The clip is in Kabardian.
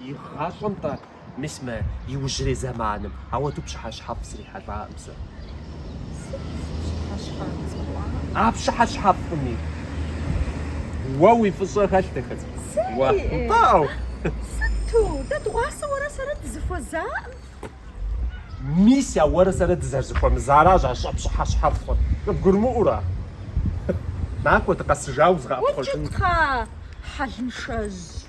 И гъащӏэм-тӏэ, мис мы иужьрей зэманым апхуэдэу пщыхьэщхьэфӏ зрихьэлӏакъым сэ. А пщыхьэщхьэфӏми уэ уи фӏыщӏэ хэлът, дахэ цӏыкӏу. Уэ. Нтӏау. Сыту? Дэ дгъуасэ уэрэ сэрэ дызэхуэзакъым. Мис а уэрэ сэрэ дызэрызэхуэмызаращ а пщыхьэщхьэфӏыр. Къыбгурымыӏуэрэ? Накӏуэ, дыкъэсыжауэ сыкъэӏэпхъуэжынкъым. Укӏытэ, хьэлыншэжь.